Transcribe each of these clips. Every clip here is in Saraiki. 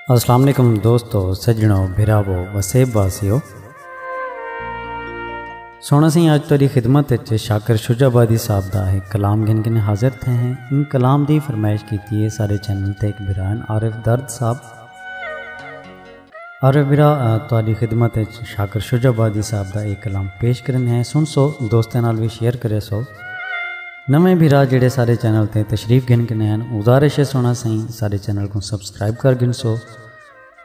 السلام علیکم دوستو سجنو بھراو وسیب واسیو سونا سی آج تاری خدمت اچھے شاکر شجا بادی صاحب دا ہے کلام گن گن حاضر تھے ہیں ان کلام دی فرمائش کیتی ہے سارے چینل تے ایک بھرائن عارف درد صاحب عارف برا تہاڈی خدمت اچ شاکر شجاع آبادی صاحب دا اے کلام پیش کرن ہیں سن سو دوستاں نال وی شیئر کرے سو نویں بھرا جڑے سارے چینل تے تشریف گھن کنے ہیں گزارش ہے سونا سائیں سارے چینل کو سبسکرائب کر گھن سو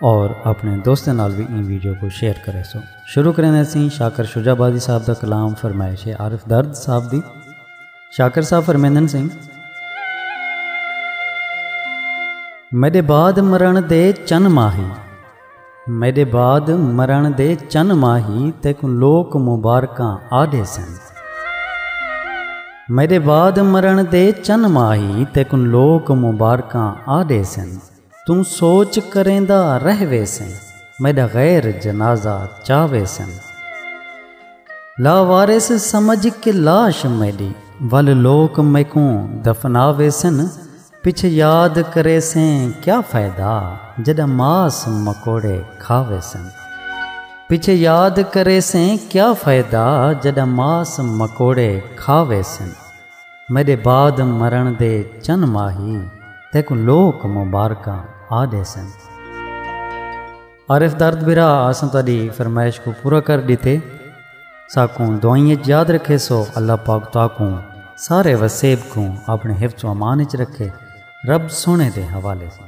اور اپنے دوستوں نال بھی ان ویڈیو کو شیئر کرے سو شروع کریں سی شاکر شجا بازی صاحب دا کلام فرمائش ہے عارف درد صاحب دی شاکر صاحب فرمیندن سن میڈے بعد مرن دے چن ماہی میڈے بعد مرن دے چن ماہی تیک لوک مبارکاں آدھے سن میڈے بعد مرن دے چن ماہی تیک لوک مبارکاں آدھے سن توں سوچ کریندا رہ ویسیں میڈا غیر جنازہ چا ویسن لا وارث سمجھ کے لاش میڈی ول لوک میکوں دفنا ویسن پچھ یاد کریسیں کیا فائدہ جڈاں ماس مکوڑے کھا ویسن پچھ یاد کریسیں کیا فائدہ جڈاں ماس مکوڑے کھا ویسن میݙے بعد مرݨ دے چن ماہی تیکوں لوک مبارکاں آ ݙیسن۔ عارف درد برا اساں تہاݙی فرمائش کوں پورا کر ݙتے۔ ساکوں دعائیں اچ یاد رکھیسو۔ اللہ پاک تہاکوں سارے وسیب کوں اپݨے حفظ و امان اچ رکھے۔ رب سوہݨے دے حوالے ساں۔